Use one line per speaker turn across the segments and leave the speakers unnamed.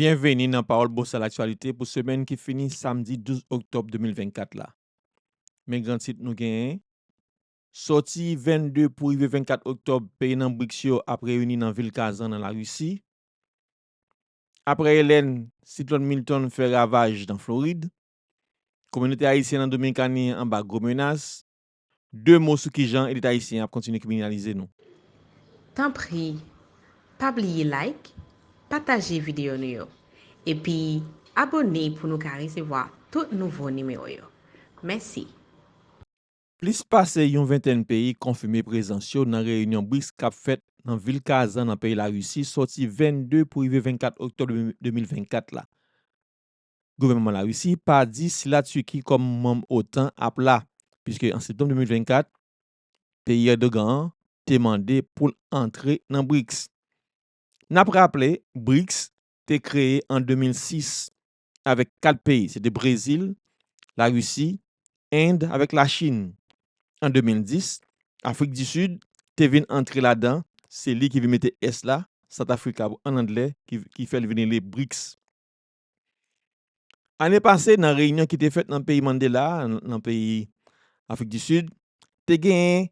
Byenveni nan Pawòl Bosal Laktyalite pou semèn ki fini samdi 12 oktòb 2024 la. Men gran tit nou genyen, Sòti 22 pou rive 24 oktòb peyi nan BRICS yo ap reyini nan vil Kazan nan Larisi, Aprè Elèn, siklòn Milton fè ravaj nan Florid. Kominote ayisyen nan Dominikani anba gwo menas. 2 mo sou kijan elit ayisyen an ap kontinye kriminalize nou. Tanpri
pa bliye like, pataje videyo nou yo, epi abone pou nou ka resevwa tout nouvo nimewo yo. Mèsi!
Plis pase yon ventèn peyi konfime prezans yo nan reyinyon BRICS k ap fèt nan vil Kazan nan peyi Larisi sòti 22 pou rive 24 oktòb 2024 la. Gouvènman Larisi pa di si Latiki kòm manm otan ap la, puiske an septanm 2024, peyi Erdogan an te mande pou l antre nan BRICS. N ap raple, BRICS te kreye an 2006 avèk 4 peyi, se te Brezil, Larisi, End avèk Lachin. An 2010, Afrik di Sid te vin antre ladan, se li ki vin mete S la, South Africa an anglè, ki fè l vin rele BRICS. Ane pase, nan reyinyon ki te fèt nan peyi Mandela a, nan peyi Afrik di Sid, te genyen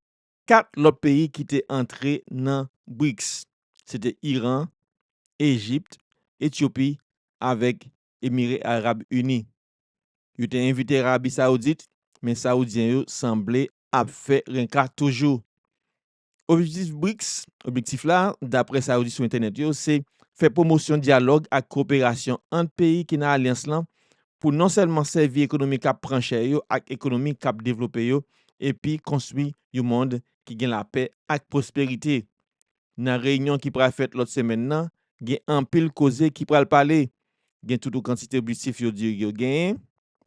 4 lòt peyi ki te antre nan BRICS, se te Iran, Ejipt, Etyopi avèk Emire Arab Ini. Yo te envite Rabi Saoudit, men Saoudyen yo sanble ap fè renka toujou. Objektif BRICS, objektif la, daprè sa yo di sou entènèt yo, se fè pwomosyon dyalòg ak koperasyon ant peyi ki nan alyans lan pou non sèlman sèvi ekonomi k ap pran chè yo ak ekonomi k ap devlope yo epi konstwi yon mond ki gen lapè ak pwosperite. Nan reyinyon ki pral fèt lòt semèn nan, gen anpil koze ki pral pale. Gen toutou kantite objektif yo di yo genyen.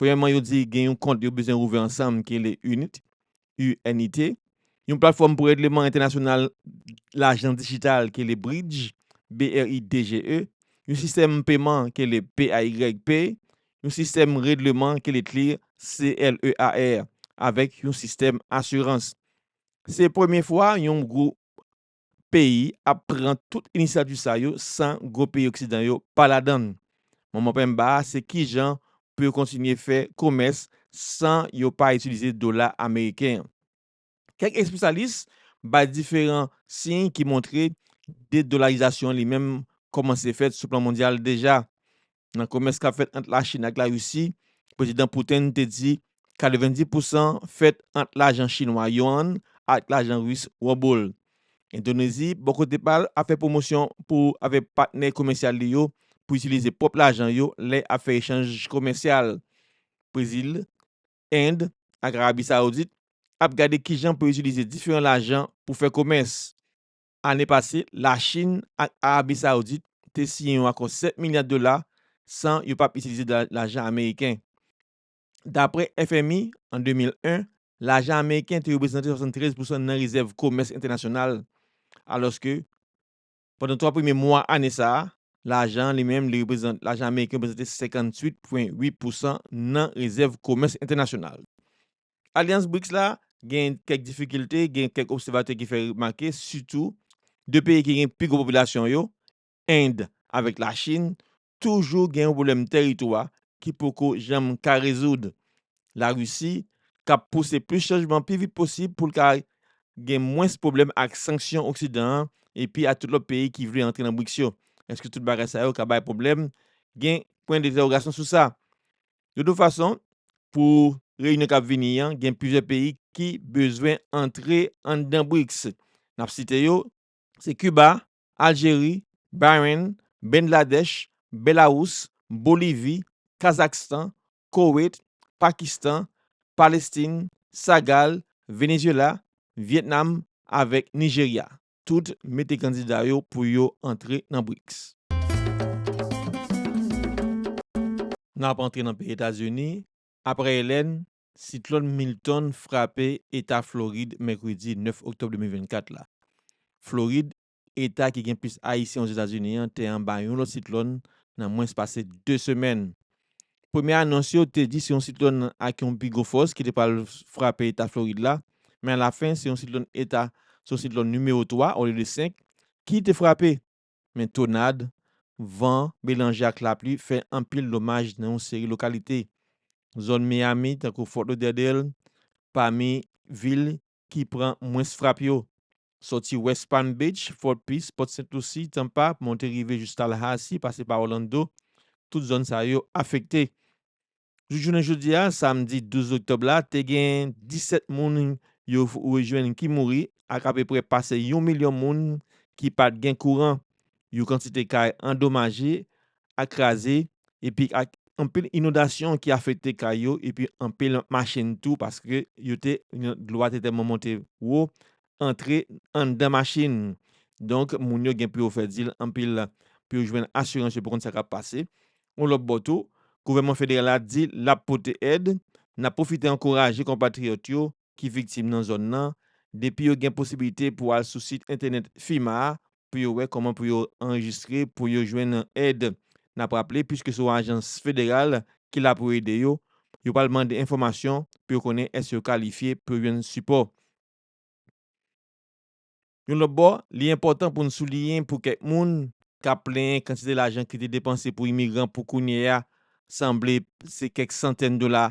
Premyèman yo di gen yon kont yo bezwen ouvè ansanm ki rele UNIT, UNIT, yon platfòm pou règleman entènasyonal lajan dijital ki rele Bridge, BRIDGE, yon sistèm peman ki rele PAYPay, yon sistèm règleman ki rele CLEAR, C-L-E-A-R, avèk yon sistèm asirans. Se premye fwa yon gwo peyi ap pran tout inisyativ sa yo san gwo peyi oksidan yo pa ladan. Manman penmba a se kijan pou yo kontinye fè komès san yo pa itilize dola ameriken an. Kèk espesyalis bay diferan siy ki montre dedolarizasyon an li menm kòmanse fèt sou plan mondyal deja. Nan komès kap fèt ant Lachin ak Larisi, Prezidan Putin te di 90 pousan fèt ant lajan chinwa Yuan ak lajan Ris Ruble. Endonezi, bò kote pa l, ap fè pwomosyon pou avèk patnè komèsyal li yo pou itilize pwòp lajan yo lè ap fè echanj komèsyal. Brezil, End ak Arabi Saoudit ap gade kijan pou yo itilize diferan lajan pou fè komès. Ane pase, Lachin ak Arabi Saoudit te siyen yon akò 7 milya dola san yo pap itilize lajan ameriken. Dapre FMI, an 2001, lajan ameriken te reprezante 73 pousan nan rezèv komès entènasyonal, alòske pandan twa premye mwa ane sa a, lajan an li menm li reprezante lajan ameriken reprezante 58,8 pousan nan rezèv komès entènasyonal. Alyans BRICS la gen kèk difikilte, gen kèk obsèvatè ki fè remake sitou 2 peyi ki gen pi gwo popilasyon yo, End avèk Lachin, toujou gen yon pwoblèm tèritwa ki poko janm ka rezoud. Larisi k ap pouse plis chanjman pi vit posib pou l ka gen mwens pwoblèm ak sanksyon oksidan an epi ak tout lòt peyi ki vle antre nan BRICS yo. Èske tout bagay sa yo ka bay pwoblèm? Gen pwen dentèwogasyon sou sa. De tout fason, pou reyinyon k ap vini an, gen plizyè peyi ki bezwen antre anndan BRICS. N ap site yo, se Kiba, Aljeri, Bahrain, Bengladèch, Belawous, Bolivi, Kazakstan, Koweit, Pakistan, Palestin, Sagal, Venezyela, Vyetnam avèk Nijerya. tout mete kandida yo pou yo antre nan Brics. N ap antre nan peyi Etazini, aprè Helene, siklòn Milton frape eta Florid mèkredi 9 oktòb 2024 la. Florid, eta ki gen plis ayisyen Ozetazini an te anba yon lòt siklòn nan mwens pase 2 semèn. Premye anons yo te di se yon siklòn ak yon pi gwo fòs ki te pral frape eta Florid la, men alafen se yon siklòn eta, se yon siklòn nimewo 3 olye de 5, ki te frape. Men tonad, van, melanje ak lapli fè anpil domaj nan yon seri lokalite zòn Miami tankou Fort Lauderdale, pami vil ki pran mwens frap yo. Sòti West Palm Beach, Fort Pierce, Port St. Lucie, Tampa, monte rive jis Tallahassee, pase pa Orlando, tout zòn sa yo afekte. Jouk jounen jodi a, samdi 12 oktòb la, te gen 17 moun yo rejwenn ki mouri ak apeprè pase yon milyon moun ki pa t gen kouran, yon kantite kay andomaje ak kraze epi ak anpil inondasyon ki afekte kay yo epi anpil machin tou paske yo te dlo a te tèlman monte wo antre anndan machin donk moun yo gen pou yo fè dil anpil pou yo jwenn asirans yo pou konn sa kap pase yon lòt bò tou gouvènman federal la di lap pote èd nap pwofite ankouraje konpatriyòt yo ki viktim nan zòn nan depi yo gen posibilite pou al sou sit entènèt FEMA a pou yo wè kòman pou yo anrejistre pou yo jwenn èd. N ap raple, puiske se yon ajans federal ki la pou ede yo, yo pral mande enfòmasyon pou yo konnen èske yo kalifye pou yo jwenn sipò. Yon lòt bò, li enpòtan pou n souliyen pou kèk moun k ap plenyen kantite lajan ki te depanse pou imigran pou kounye a sanble se kèk santèn dola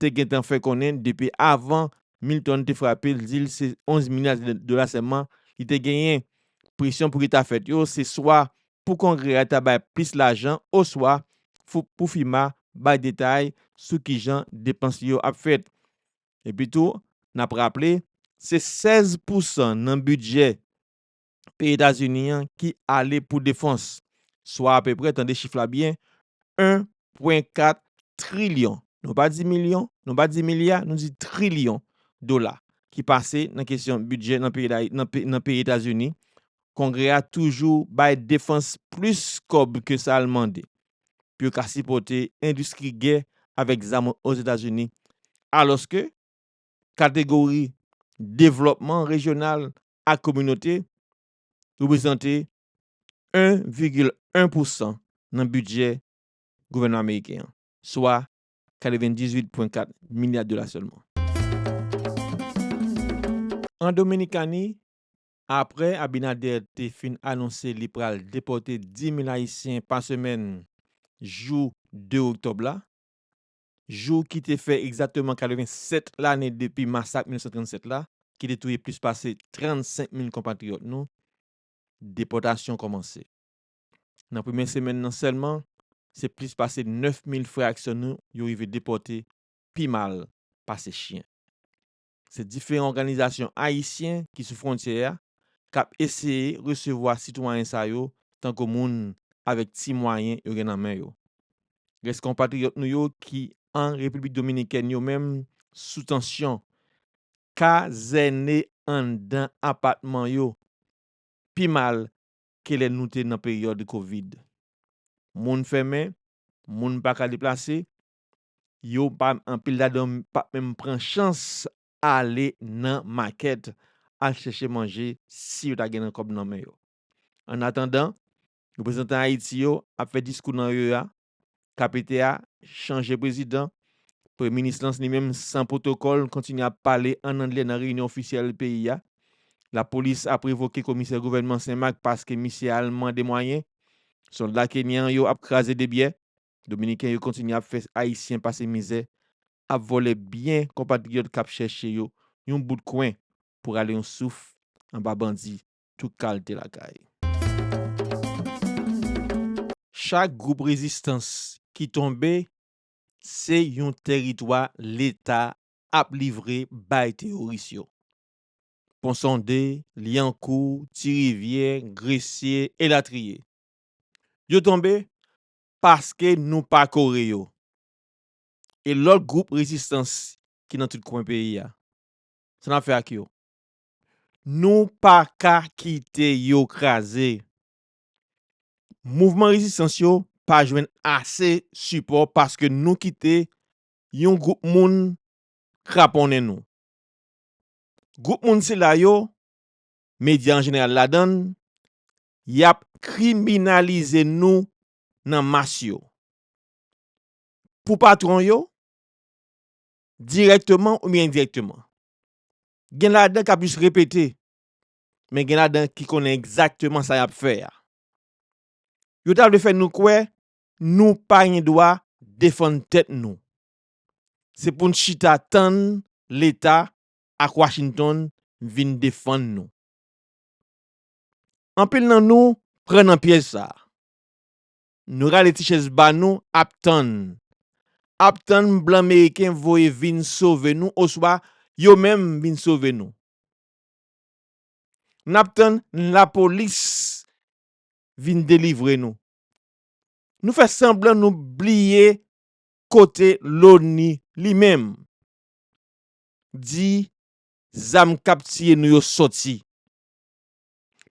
te gentan fè konnen depi avan Milton te frape l di l se 11 milya dola sèlman li te genyen. Presyon pou ki ta fèt yo se swa pou Kongrè a ta bay plis lajan oswa pou FEMA bay detay sou kijan depans li yo ap fèt. Epitou, n ap raple, se 16 pousan nan bidjè peyi Etazini an ki ale pou defans, swa apeprè, tande chif la byen, 1 pwen 4 trilyon, nou pa di milyon, nou pa di milya, nou di trilyon dola ki pase nan kesyon bidjè nan peyi Etazini, Kongrè a toujou bay defans plis kòb ke sa l mande pou yo ka sipòte endistri gè avèk zam Ozetazini, alòske kategori devlòpman rejyonal ak kominote reprezante 1,1 pousan nan bidjè gouvènman ameriken an, swa 98,4 milya dola sèlman. An Dominikani, apre Abinader te fin anonse li pral depòte 10 mil ayisyen pa semèn jou 2 oktòb la, jou ki te fè egzakteman 87 lane depi masak 1937 la, ki te touye plis pase 35 mil konpatriyòt nou, depòtasyon kòmanse. Nan premye semèn nan sèlman, se plis pase 9 mil frè ak sè nou yo rive depòte pi mal pase chyen. Se diferan òganizasyon ayisyen ki sou fwontyè a k ap eseye resevwa sitwayen sa yo tankou moun avèk ti mwayen yo gen nan men yo. Rès konpatriyòt nou yo ki an Repiblik Dominikèn yo menm sou tansyon, kazène anndan apatman yo, pi mal ke lè nou te nan peryòd kovid. Moun fèmen, moun pa ka deplase, yo pa anpil ladan yo pap menm pran chans ale nan makèt al chèche manje si yo ta gen nan kòb nan men yo. An atandan, reprezantan Ayiti yo ap fè diskou nan OEA, KPT a chanje prezidan, Premye Minis lan li menm san pwotokòl kontinye ap pale an angle nan reyinyon ofisyèl peyi a, lapolis ap revoke komisè gouvènman Senmak paske misye al mande mwayen, sòlda kenyan yo ap kraze debyè. Dominiken yo kontinye ap fè Ayisyen pase mizè, ap vòlè byen konpatriyòt k ap chèche yo yon bout kwen pou rale yon souf anba bandi tout kalte lakay. Chak gwoup rezistans ki tonbe se yon tèritwa Leta ap livre bay teyoris yo. Ponsonde, Lyankou, Tirivyè, Gresye, elatriye. Yo tonbe, paske nou pa kore yo e lòt gwoup rezistans ki nan tout kwen peyi a. Sa n ap fè ak yo? Nou pa ka kite yo kraze. Mouvman rezistans yo pa jwenn ase sipò paske nou kite yon gwoup moun kraponnen nou. Gwoup moun sila yo, medya an jeneral ladan l, Yap kriminalize nou nan mas yo. Pou patron yo, dirèkteman oubyen endirèkteman. Gen ladan kap jis repete, men gen ladan ki konnen egzakteman sa yap fè a. Yo ta vle fè nou kwè nou pa gen dwa defann tèt nou. Se pou n chita tann leta ak Washington vin defann nou. Anpil nan nou pran nan pyèj sa. Nou rale ti chèz ba nou ap tann. Ap tann blan meriken voye vin sove nou oswa yo menm vin sove nou. N ap tann lapolis vin delivre nou. Nou fè sanblan nou bliye kote loni li menm di zam k ap tiye nou yo soti.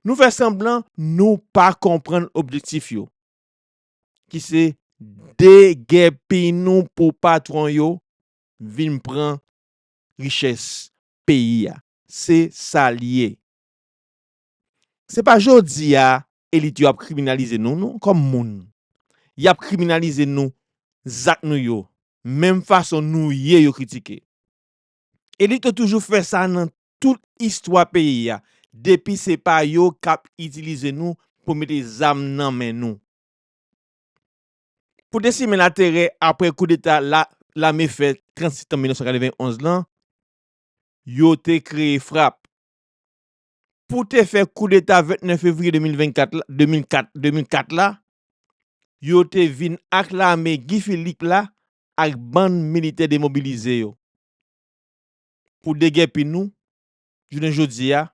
Nou fè sanblan nou pa konprann objektif yo, ki se degèpi nou pou patwon yo vin pran richès peyi a. Se sa l ye. Se pa jodi a elit yo ap kriminalize nou non kòm moun. Y ap kriminalize nou zak nou yo, menm fason nou ye yo kritike. Elit yo toujou fè sa nan tout istwa peyi a depi se pa yo kap itilize nou pou mete zam nan men nou pou te simen laterè aprè koudeta lame fè 30 septanm 1991 lan yo te kreye frap pou te fè koudeta 29 fevriye 2004 la yo te vin ak lame Guy Philippe la ak bann militè demobilize yo. Pou degèpi nou, jounen jodi a,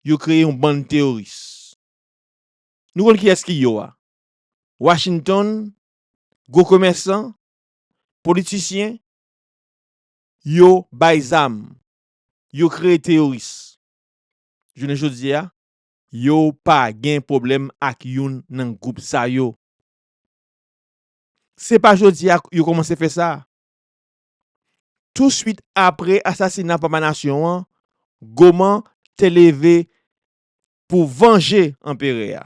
yo kreye yon bann teyoris. Nou konn kiyès ki yo a? Washington, gwo komèsan, politisyen, yo bay zam, yo kreye teyoris. Jounen jodi a, yo pa gen pwoblèm ak youn nan gwoup sa yo. Se pa jodi a yo kòmanse fè sa. touswit apre asasina Papa Nasyon an, Goman te leve pou vanje Anperè a,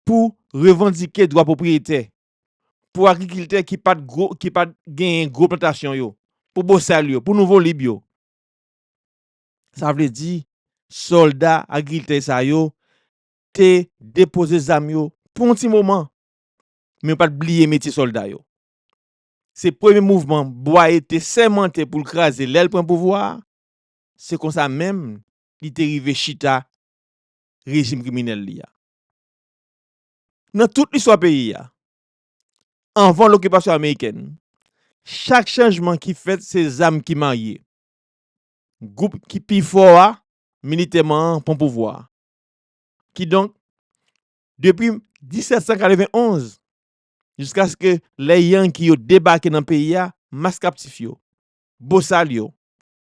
pou revandike dwa pwopriyete pou agrikiltè ki pa t genyen gwo plantasyon yo, pou bosal yo, pou nouvo lib yo. Sa vle di, sòlda agrikiltè sa yo te depoze zam yo pou yon ti moman, men yo pa t bliye metye sòlda yo. Se premye mouvman Bwaye te sèmante pou l kraze lè l pran pouvwa a. Se konsa menm li te rive chita rejim kriminèl li a. Nan tout listwa peyi a, anvan lokipasyon amerikèn, chak chanjman ki fèt se zam ki marye. Gwoup ki pi fò a militèman an pran pouvwa a. Kidonk, depi 1791, jiskaske lè Yankee yo debake nan peyi a, mas kaptif yo, bosal yo,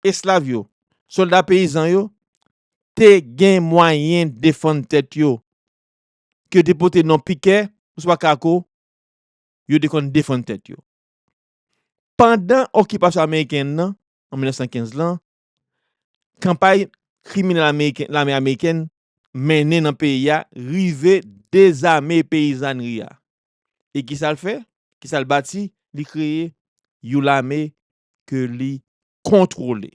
eslav yo, solda peyizan yo, te gen mwayen defann tèt yo, ke yo te pote non pikè oswa kako, yo te konn defann tèt yo. Pandan okipasyon ameriken nan, an 1915 lan, kanpay kriminèl ameriken lame amerikèn mennen nan peyi a rive dezame peyizànri a e ki sa l fè ki sa l bati li kreye yon lame ke li kontwole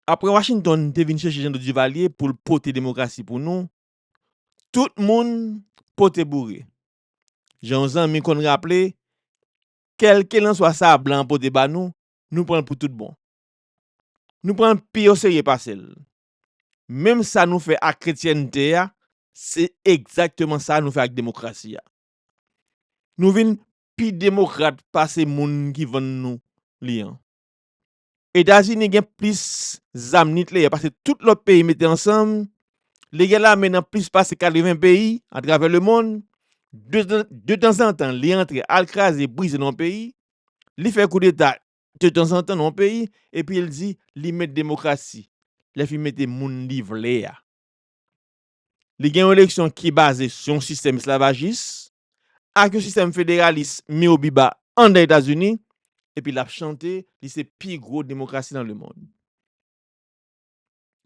apre Washington te vin chèche Jean Claude Duvalier pou l pote demokrasi pou nou tout moun pote boure jan yon zanmi konn raple Kèlkelanswa sa a blan an pote ba nou, nou pran l pou tout bon. Nou pran l pi oserye pase l. Menm sa nou fè ak kretyènte a, se egzakteman sa nou fè ak demokrasi a. Nou vin pi demokrat pase moun ki vann nou li an. Etazini gen plis zam nikleyè pase tout lòt peyi mete ansanm, li gen lame nan plis pase 80 peyi atravè lemonn, de tanzantan li antre al kraze brize nan yon peyi, li fè koudeta de tanzantan nan yon peyi epi l di li mèt demokrasi, lè fi mete moun li vle a. Li gen yon eleksyon ki baze sou yon sistèm esklavajis, ak yon sistèm federalis miwobiba anndan Etazini, epi l ap chante li se pi gwo demokrasi nan lemonn.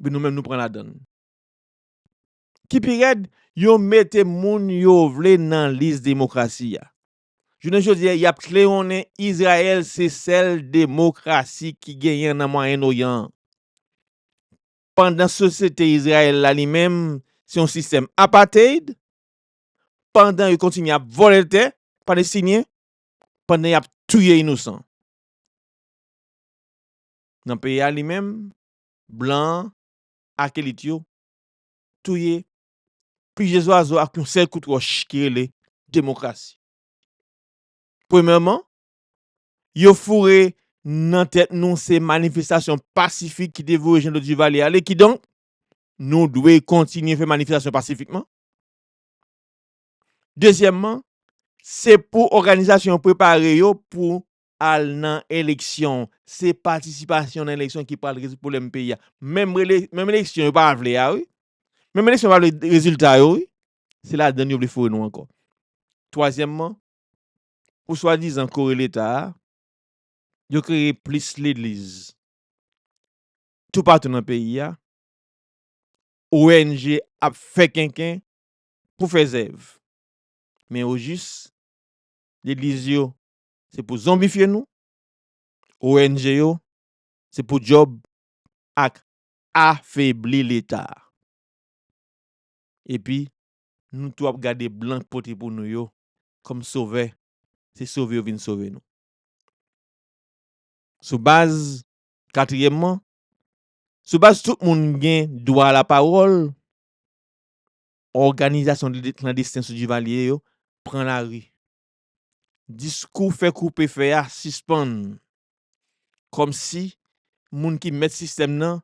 Epi nou menm nou pran ladan l. Ki pi rèd, yo mete moun yo vle nan lis demokrasi a. Jounen jodi a, y ap klewonnen Izrayèl se sèl demokrasi ki genyen nan Mwayen Oryan an, pandan sosyete Izrayèl la li menm se yon sistèm apartheid pandan yo kontinye ap vòlè tè Palestinyen, pandan y ap touye inousan. Nan peyi a li menm, blan an ak elit yo touye plizyè zwazo ak yon sèl kout wòch ki rele demokrasi. Premyèman, yo foure nan tèt nou se manifestasyon pasifik ki te voye Jean Claude Duvalier ale, kidonk, nou dwe kontinye fè manifestasyon pasifikman, Dezyèmman, se pou òganizasyon yo prepare yo pou al nan eleksyon. Se patisipasyon nan eleksyon ki pral rezoud pwoblèm peyi a. Menm eleksyon yo pa vle a wi. Menm eleksyon yo pa vle rezilta yo wi. Se ladann yo vle foure nou ankò. Twazyèmman, pou swadizan kore leta a, yo kreye plis legliz toupatou nan peyi a. ONG ap fè kenken pou fè zèv. Men ojis, legliz yo se pou zonbifye nou, ONG yo se pou djòb ak afebli leta. Epi, nou tou ap gade blan pote pou nou yo kòm sovè, se sove yo vin sove nou. Sou baz katriyèmman, Sou baz tout moun gen dwa lapawòl, òganizasyon klandesten sou Divalye yo pran lari. Diskou fè koupe fè a sispann. Kòmsi moun ki mèt sistèm nan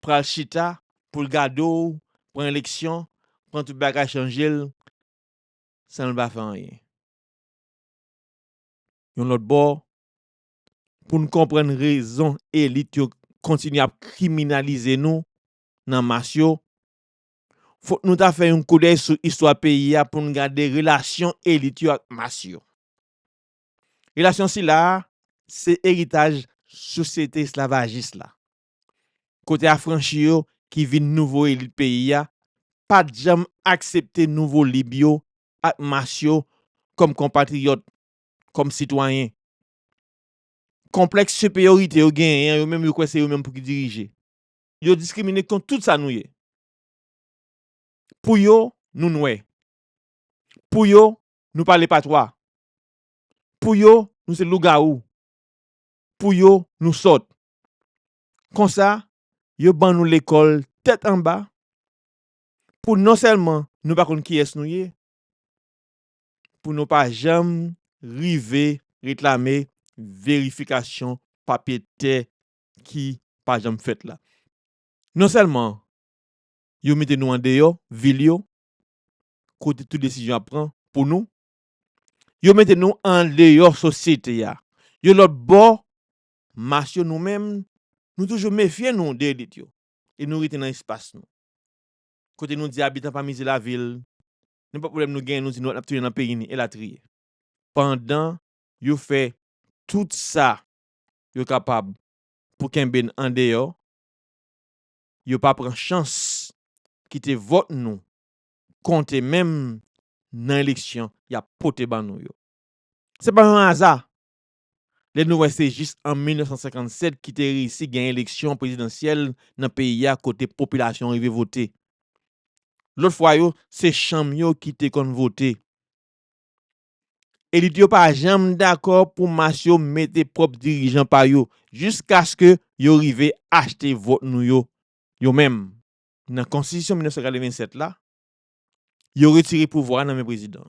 pral chita pou l gade w pran eleksyon, pran tout bagay chanje l san l pa fè anyen. Yon lòt bò, pou n konprann rezon elit yo kontinye ap kriminalize nou nan mas yo, fòk nou ta fè yon koudèy sou istwa peyi a pou n gade relasyon elit yo ak mas yo. Relasyon sila a se eritaj sosyete esklavajis la, kote afranchi yo ki vin nouvo elit peyi a pa t janm aksepte nouvo lib yo ak mas yo kòm konpatriyòt kòm sitwayen. Konplèks siperyorite yo genyen an, yo menm yo kwè se yo menm pou ki dirije. Yo diskrimine kont tout sa nou ye. Pou yo, nou nwè. Pou yo, nou pale patwa. Pou yo, nou se lougawou. Pou yo, nou sòt. Konsa, yo ban nou lekòl tèt anba pou non sèlman nou pa konn kiyès nou ye, pou nou pa janm rive reklame verifikasyon papye tè ki pa janm fèt la. Non sèlman yo mete nou andeyò vil yo kote tout desizyon ap pran pou nou, yo mete nou andeyò sosyete a. Yon lòt bò, mas yo nou menm, nou toujou mefye nou de elit yo e nou rete nan espas nou. Kote nou di abitan pa mize lavil, nenpòt pwoblèm nou genyen nou di nou ap tounen nan peyi nou elatriye. Pandan yo fè tout sa yo kapab pou kenbe n andeyò, yo pa pran chans kite vòt nou konte menm nan eleksyon y ap pote ban nou yo. Se pa yon aza lè nou wè se jis an 1957 ki te reyisi gen eleksyon prezidansyèl nan peyi a kote popilasyon an rive vote. Lòt fwa yo, se chanm yo ki te konn vote. Elit yo pa janm dakò pou mas yo mete pwòp dirijan pa yo jiskaske yo rive achte vòt nou yo, yo menm. Nan Konstitisyon 1987 la, yo retire pouvwa a nan men prezidan.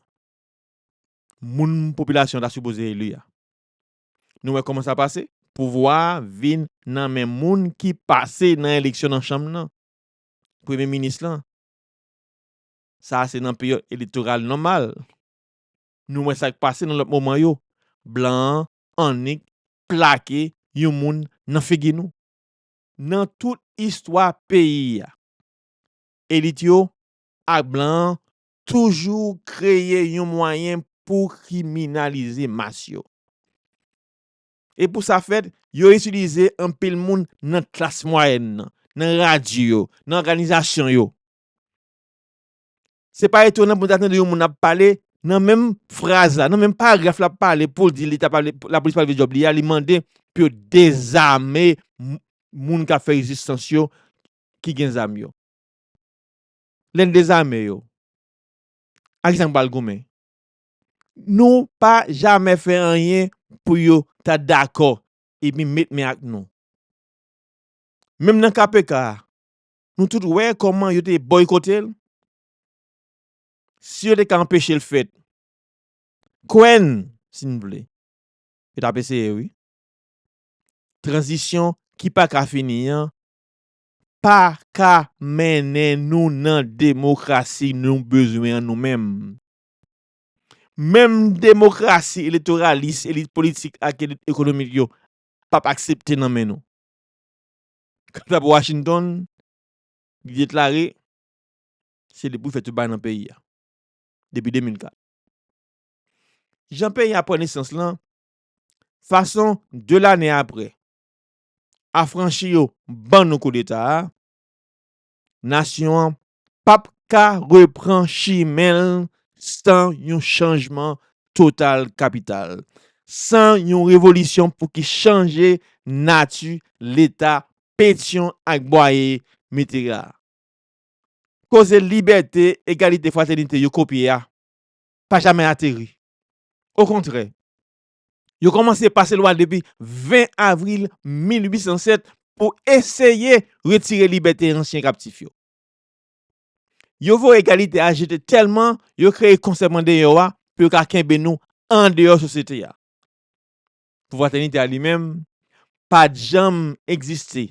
moun popilasyon ta sipoze eli a. Nou wè kòman sa pase? Pouvwa a vin nan men moun ki pase nan eleksyon nan chanm nan, premye minis lan. Sa a se nan peryòd eletoral nòmal. Nou wè sa k pase nan lòt moman yo, blan an annik plake yon moun nan figi nou. Nan tout istwa peyi a, elit yo ak blan an toujou kreye yon mwayen pou kriminalize mas yo. E pou sa fèt, yo itilize anpil moun nan klas mwayèn nan, nan radyo yo, nan òganizasyon yo. Se pa etonan pou nou ta tande yon moun ap pale, nan menm fraz la, nan menm paragraf lap pale pou l di leta pa vle, lapolis pa vle fè djòb li a, li mande pou yo dezame moun kap fè rezistans yo ki gen zam yo. Lè n dezame yo, ak kisa n pral goumen? Nou pa jamè fè anyen pou yo ta dakò epi met men ak nou. Menm nan KPK a, nou tout wè kòman yo te bòykote l. Si yo te ka anpeche l fèt, kwè n, si n vle, yo t ap eseye wi. Tranzisyon ki pa ka fini an pa ka mennen nou nan demokrasi nou bezwen an nou menm. Menm demokrasi eletoralis elit politik ak elit ekonomik yo p ap aksepte nan men nou. Kanta pou Washington, li deklare se depi w fè tout bagay nan peyi a, depi 2004. Jan peyi a pran nesans lan, fason 2 lane apre, afranchi yo ban nou koudeta a, nasyon an p ap ka repran chimen l san yon chanjman total kapital, san yon revolisyon pou ki chanje nati Leta Petyon ak Bwaye mete la. Koze libète, egalite, fratènite yo kopye a pa jamè ateri. Okontrè, Yo kòmanse pase lwa depi 20 avril 1807 pou eseye retire libète ansyen kaptif yo. Yo voye egalite a jete tèlman yo kreye Konsèy Mandeyò a pou yo ka kenbe nou andeyò sosyete a. Pou Fratènite a li menm, pa t janm egziste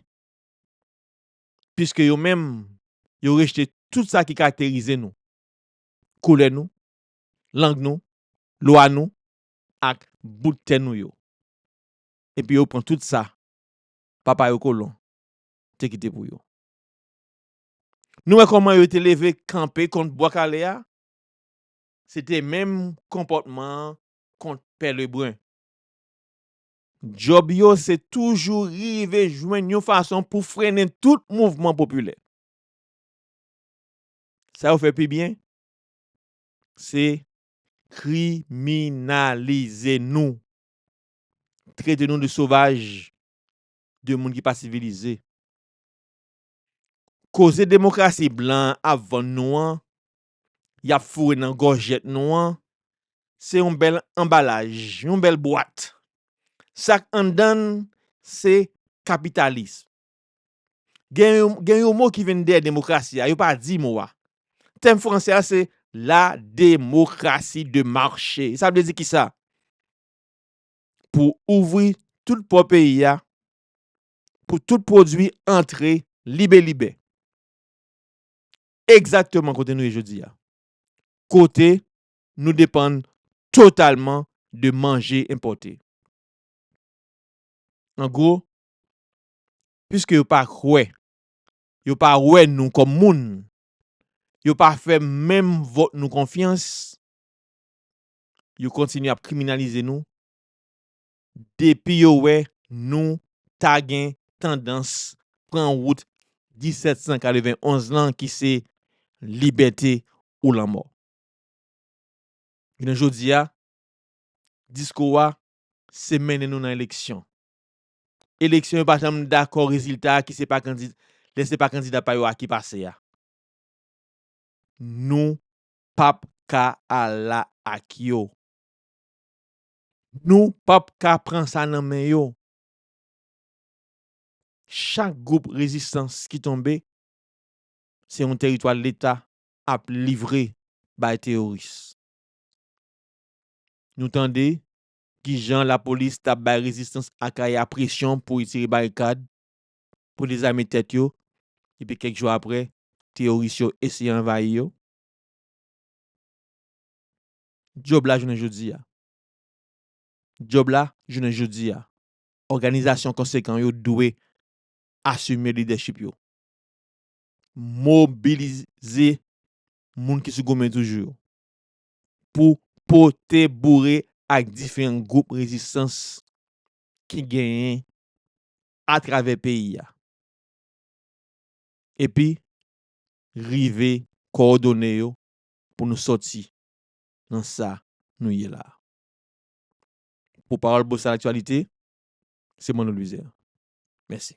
piske yo menm yo rejte tout sa ki karakterize nou, koulè nou, lang nou, lwa nou, ak bout tè nou yo, epi yo pran tout sa papa yo kolon te kite pou yo. Nou wè kòman yo te leve kanpe kont Bwa Kale a? Se te menm konpòtman an kont Pè Lebrun. Djòb yo se toujou rive jwenn yon fason pou frennen tout mouvman popilè. Sa yo fè pi byen, se Kriminalize nou. Trete nou de sovaj, de moun ki pa sivilize. Koze demokrasi blan an ap vann nou an, y ap foure nan gòjèt nou an, se yon bèl anbalaj, yon bèl bwat. Sa k anndan l se kapitalism. Gen yon mo ki vin dèyè demokrasi a, yo pa di mo a. Tèm franse a se la demokrasi de mache. Sa vle di ki sa? Pou ouvri tout pò peyi a, pou tout pwodui antre libe libe. Egzakteman kote nou ye jodi a. Kote nou depann totalman de manje enpòte. An gwo, piske yo pa kwè, yo pa wè nou kòm moun, yo pa fè menm vòt nou konfyans, yo kontinye ap kriminalize nou depi yo wè nou ta gen tandans pran wout 1791 lan ki se libète ou lanmò. Jounen jodi a, diskou a se mennen nou nan eleksyon. eleksyon yo pa janm dakò rezilta a ki se pa kandida lè se pa kandida pa yo a ki pase a nou pap ka ala ak yo nou pap ka pran sa nan men yo chak gwoup rezistans ki tonbe se yon teritwa leta ap livre bay teyoris nou tande Ki jan lapolis ta bay rezistans Akaya presyon pou retire barikad, pou dezame tèt yo, epi kèk jou apre, teyoris yo eseye anvayi yo? Djòb la jounen jodi a Djòb la jounen jodi a Òganizasyon konsekan yo dwe asime lidèchip yo, mobilize moun ki sou goumen toujou yo, pou pote boure ak diferan gwoup rezistans ki genyen atravè peyi a epi rive kowòdone yo pou nou sòti nan sa nou ye la a. Pou pawòl Bosa Laktyalite, se Manno Louizer. Mèsi.